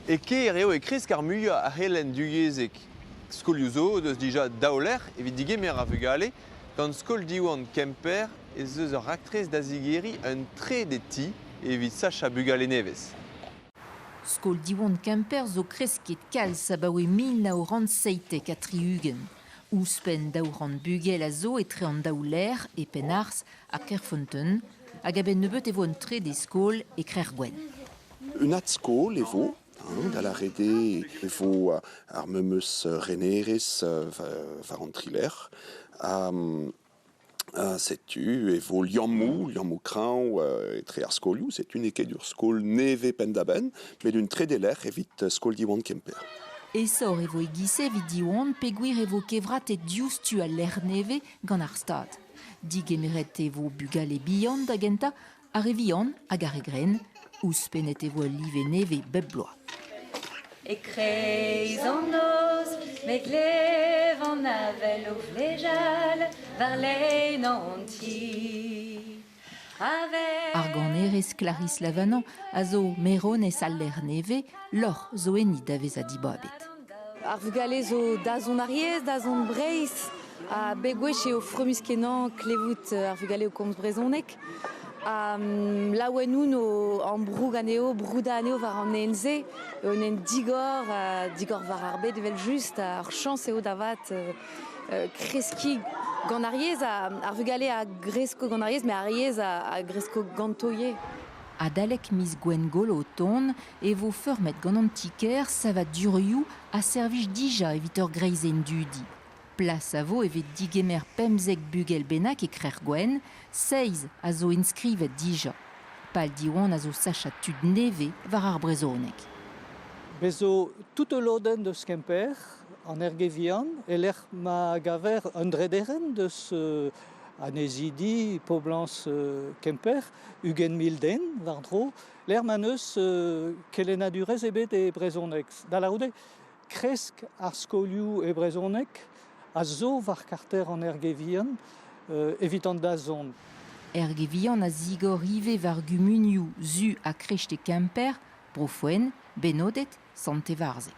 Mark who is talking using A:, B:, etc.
A: E kêr eo e kresk ar muiañ a c'helenn duyezhek. Skolioù zo o deus dija daou lec'h evit digemer ar vugale. Gant skol Diwan Kemper ez eus ur raktres da zigeriñ un trede ti evit sachañ bugale nevez. Skol Diwan Kemper zo kresket kalz abaoe mil nav c'hant seitek ha tri-ugent. Ouzhpenn daou c'hant bugel a zo etre an daou lec'h e Penarz ha Kerfonteun hag a-benn nebeut e vo un trede skol e Krec'hgwenn. Un adskol e vo, da lâret eo e vo ar memes renerezh war an trilec'h. setu e vo liammoù, liammoù kreñv etre ar skolioù. Setu n'eo ket ur skol nevez penn-da-benn, met un trede lec'h evit skol Diwan Kemper. Aesoc'h e vo e-giz-se evit Diwan peogwir e vo kevratet diouzhtu al lec'h nevez gant ar Stad. Digemeret e vo bugale bihan da gentañ ar re vihan hag ar re grenn, ouzhpennet e vo al live nevez bep bloaz. E-kreiz an noz, me glev an avel o vlejal war-lein an ti. Ar ganerez Clarisse Lavanañ a zo meronez al lec'h nevez, lorc'h zo enni da vezañ dibabet. Ar vugale zo da zont Ariez, da zont Breizh, ha bep gwech eo fromus-kenañ klevout ar vugale o komz brezhoneg. laouen no ambroug anezho, broudañ anezho war an ene-se eo un ene digor, digor war ar bed evel-just. Ar chañs eo da vat kreskiñ gant ar yezh, ar vugale a gresko gant ar yezh, met ar yezh a gresko ganto ivez. Adalek miz Gwengolo o tont e vo feurmet gant an ti-kêr savadurioù a servij dija evit ur greizenn dudi. Plas a vo evit digemer pemzek bugel bennak e Krec'h-Gwenn, seizh a zo inskrivet dija. Pal Diwan a zo sachañ tud nevez war ar brezhoneg. Bez zo tout ul lodenn deus Kemper, an Erge-Vihan, e-lec'h ma gaver un drederenn deus annezidi poblañs Kemper, ugent mil den war-dro, lec'h ma n'eus kelennadurezh ebet e brezhoneg. Da lârout eo kresk ar skolioù e brezhoneg a zo war karter an Erge-Vihan evit an dazont. Erge-Vihan a zigor ivez war gumunioù Su ha Krecht e Kemper, Bro-Fouen, Benoded, Sant-Evarzeg.